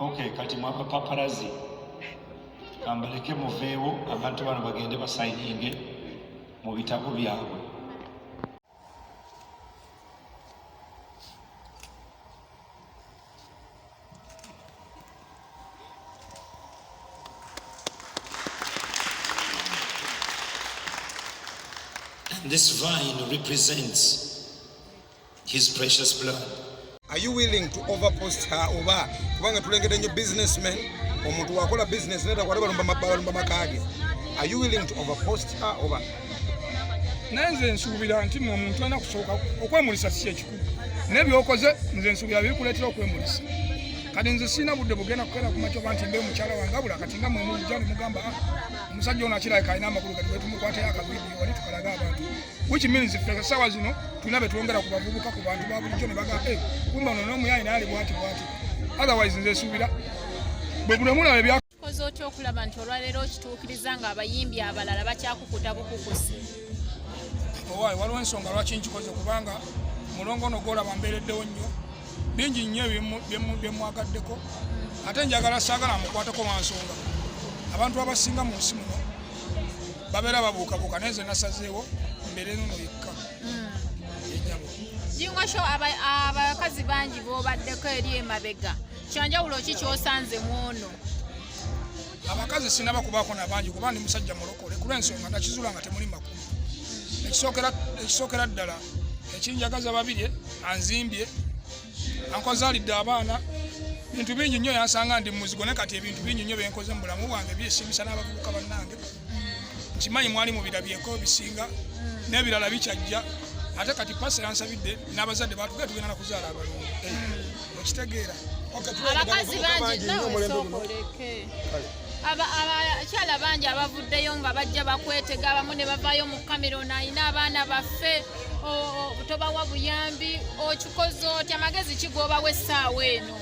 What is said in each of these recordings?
Okay, kati mwapa paparazi kambaleke muveewo abantu bano bagende basayininge mu bitabo byabwe And this vine represents his precious blood are you willing to overpost her oba kubanga tulengedde nyo businessman omuntu wakola business neta kwate balumba balumba makage are you willing to overpost her oba naye nze nsuubira nti mwe omuntu alina kusooka okwemulisa si kyekikulu naye byokoze nze nsuubira bikuleetera okwemulisa kati nze sirina budde bugenda kukeera kumakyo ba nti mbe mukyala wange abula kati nga mwemujja nemugamba ah, omusajja ono akirabika alina amakulu kati wetumukwatayo akavidiyo wali tukalaga abantu which means ffe sawa zino tulina betwongera ku bavubuka ku bantu ba bulijjo ne bagamba hey, kumba ono n'omuyaayi naali bwati bwati otherwise nze suubira bwe buno mulaba ebya okoze otya okulaba nti olwaleero okituukiriza nga abayimbi abalala bakyakukuta bukukusi owaayi waliwo ensonga lwaki nkikoze kubanga mulongo ono gwolaba mbeereddewo nnyo bingi nnyo byemwagaddeko ate njagala saagala mukwateko wansonga abantu abasinga mu nsi muno babeera babuukabuuka naye nze nasazeewo mbeera eno no yekka hmm. yenyabo jingosho abakazi bangi bobaddeko eri emabega kyanjawulo ki kyosanze mwono abakazi sinaba kubaako nabangi kuba ndi musajja mulokole kulwensonga nakizula nga temuli makulu ekisookera ddala ekinjagaza babirye anzimbye ankozalidde abaana bintu bingi nnyo yansanga ndi muzigo naye kati ebintu bingi nnyo byenkoze mu bulamu bwange byesimisa n'abavubuka bannange nkimanyi mwali mubirabyeko bisinga n'ebirala bikyajja ate kati pasa yansabidde n'abazadde batuge tugenda nakuzaala abalungu okitegeera abakazi bangi nawe sookoleke abakyala bangi abavuddeyo nga bajja bakwetega abamu ne bavaayo mu cameron alina abaana baffe tobawa buyambi okikoze otya magezi kigoobawo essaawa eno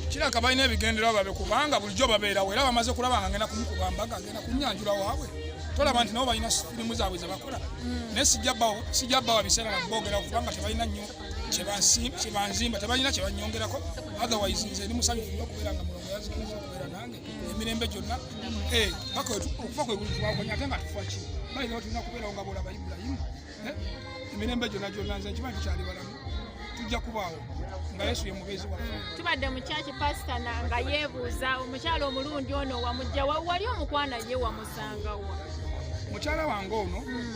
kiraka balina ebigendererwa babe kubanga bulijjo babeerawo era bamaze kulaba nga ngenda kumukuba mbaga ngenda kunyanjula waabwe tolaba nti nabo balina firimu zaabwe zebakola mm. naye sijja bawa biseera naboogera kubanga tebalina nnyo kyebanzimba tebalina kyebanyongerako otherwise nze ndi musanyufu okubeera nga mulongo yazikiriza okubeera emirembe gyonna eh, paka okufa kwe buli twakonya ate nga tufa ki bayinza batulina kubeerawo nga boolaba ibulayimu eh, emirembe gyonna gyonna nze nkimanyi tukyali balamu tujja kubaawo nga yesu ye mubeezi waffe tubadde mu kyaki pasita nga yeebuuza omukyala omulundi ono wamujja wali omukwana ye wamusangawa mukyala wange ono hmm.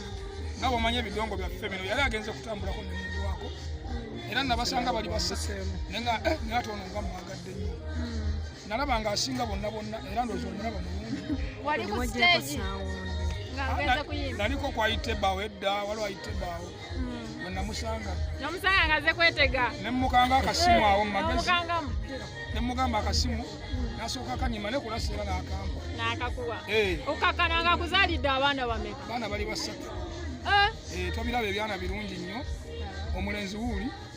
nga bwomanya ebidongo byaffe bino yali agenze kutambulako nemugwako hmm. era nabasanga bali basatu naye nga eh, naye ate ono nga mwagadde nnyo hmm. nalaba nga asinga bonna bonna era ndoza omulaba mulungi naliko kwayite bawo edda waliwo ayite bawo hmm. wenamusanga namusanga ngaze kwetega nemukanga akasimu awo mumagezi nemugamba akasimu nasooka kanyima nekulasa era nakamba nakakuwa eh. okakana nga kuzalidde abaana bameka baana bali basatu eh? Eh, tobiraba ebyana birungi nnyo omulenzi wuuli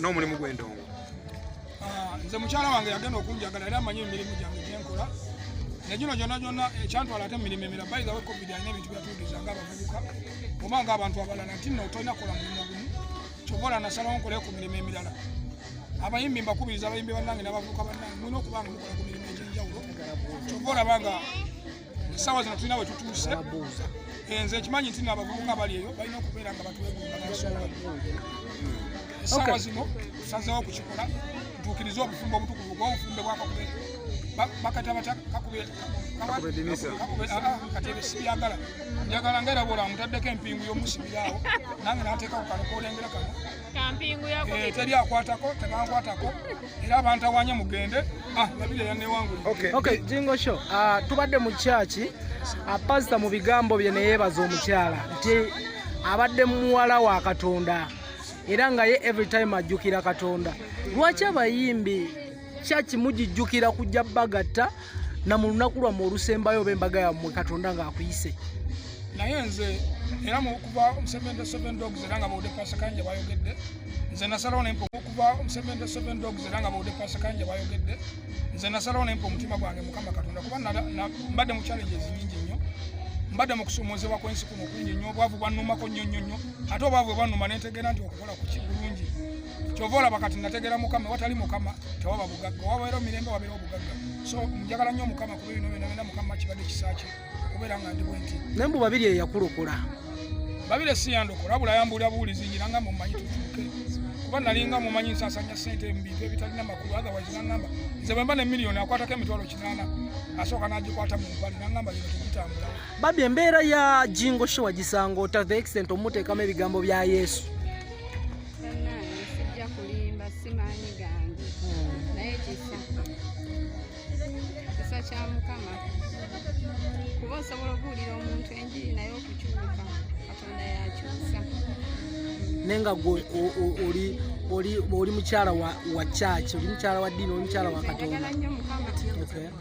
n'omulimu gw'endongo ah, nze mukyala wange yagenda okunjagala era amanyi emirimu gyange gyenkola negino gyonna gyonna ekyantwala ate emirimu emira bayizawe covid alina ebintu byatuugiza nga abavubuka oba nga abantu abalala nti no tolina kola mulimu gumu kyova ola nasalawo nkolayo ku mirimu emirala abayimbi mbakubiriza abayimbi bannange n'abavubuka bannange mulina okubanga mukola ku mirimu egyenjawulo kyova olaba nga sawa zino tulina wetutuuse eh, nze nkimanyi nti nabavubuka bali eyo balina okubeera nga batuweguaansonga sawa zino tusazewo okukikola tutuukirize obufumbo obutukuvu bwobufumbe bwakakube bakata batya kakube katebe sibyagala njagala nga era bwola mutaddeko empingu yomusibiraawo nange nateeka ku kano kolengera kano Eh, teri akwatako tebankwatako era bantawanya mugende ah, nabire yanewangulejingosho ah, tubadde mu kyaki ah, pasita mu bigambo bye neyeebaza omukyala nti abadde muwala wa katonda era nga ye every time ajjukira katonda lwaki abayimbi kyaki mugijjukira kujja bagatta na mu lunaku lwammwe olusembayo oba embaga yammwe katonda ng'akuyise naye nze era mukuva omusevende seven dogs era nga bawudde pasakanja bayogedde nze nasalawo nempa okuva omusevende seven dogs era nga bawudde pasakanja bayogedde nze nasalawo nempa omutima gwange mukama katonda kuba mbadde mu challenges nyingi nnyo mbadde mu kusomoozebwa kwensi kuno kungi nnyo obwavu bwannumako nnyo nnyo nnyo ate obwavu bwannuma nentegeera nti kola ku kibulungi kyova olaba kati nategera mukama watali mukama tewaba bugagga wabaera omirembe wabeera obugagga so njagala nnyo mukama kuba ebino bino bina mukama kibadde kisakye okubeera nga ndi bwenti naye mbu babiri eyakulokola babiri siyandokola abula yambuulira buwulizi ngira nga mumanyi tutuuke kuba nalinga mumanyi nsasanya sente mu bintu ebitalina makulu otherwise nangamba nze bwemba ne miliyoni akwatako emitwalo kinaana asooka n'agikwata mu mpale nangamba yino tegitambula babi embeera ya jingo sho wagisanga ota the extent omuteekamu ebigambo bya yesu naye nga gwe oli mukyala wa kyaki oli mukyala wa ddiini oli mukyala wa katonda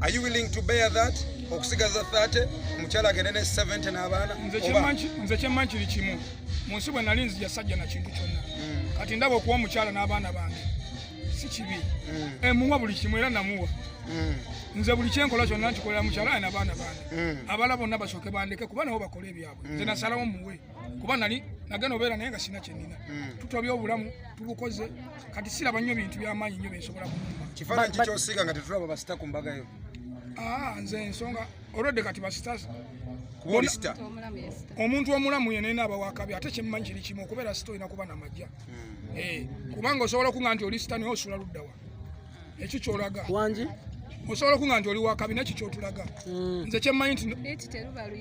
Are you willing to bear that? Okusigaza 30, omukyala agende ne 70 n'abaana? Nze kyemmanyi kiri kimu. Mu nsi bwe nali nzija sajja na kintu kyonna. Hmm. Kati ndaba okuwa omukyala n'abaana bange. Si kibi. Hmm. Emuwa eh, buli kimu era namuwa. Hmm. Nze buli kyenkola kyonna nkikolera mukyala aye n'abaana bange. Abala bonna basooke bandeke kuba nabo bakole ebyabwe. Nze nasalawo muwe. kuba nali nagenda obeera naye nga sina kyenina hmm. tutobya obulamu tubukoze kati siraba nnyo bintu byamaanyi nnyo byensobola kuuma kifaananyi kikyosiiga nga tetulaba basita ku mbaga yo ah, nze ensonga olwedde kati basita omuntu omulamu yenena aba wakabi ate kyemumanyi kiri kimu okubeera sita olina kuba namajja hmm. eh, kubanga osobola okuga nti oli sita naye osula luddawa ekyo kyolaga wangi osobola okuga nti oli wakabi nakyo kyotulaga hmm. nze kyemmanyi nti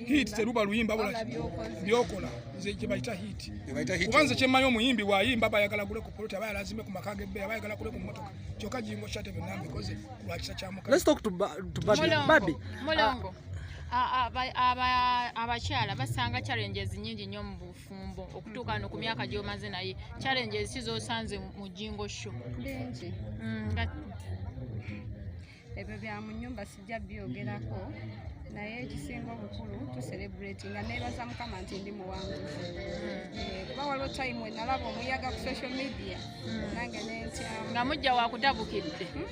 hit teruba luyimba bula byokola nze kyebayita hit kuba nze kyemmanyi omuyimbi wayimba bayagala gule ku poloti aba yalazime ku maka gebe aba yagala gule ku motoka kyoka jingo shate byonna mbikoze lwakisa kyamukababi abakyala basanga challenges nyingi nyo mubufu bufumbo okutuuka no ku myaka gy'omaze naye challenge eziki z'osanze mu jingo sho bingi mm, ebyo bya mu nyumba sijja byogerako naye ekisinga obukulu tuserebrati nga nebaza mukama nti ndi muwanguzi mm. eh, kuba waliwo time wenalaba omuyaga ku social media mm. nange nentya nga mujja wakutabukidde hmm?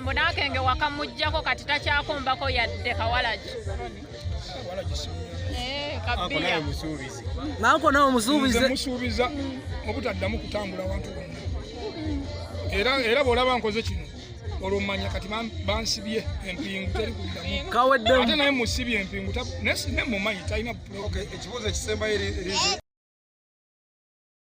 mbona akenge wakamujjako kati takyakombako yadde kawalagi eh, nanko nawe musuubizemusuubiza obutaddamu kutambula wantu wonna era bwolaba nkoze kino olwo manya kati bansibye empingu teri kuddamuate naye musibye empingu naye mumanyi talina ekibuuzo ekisembayo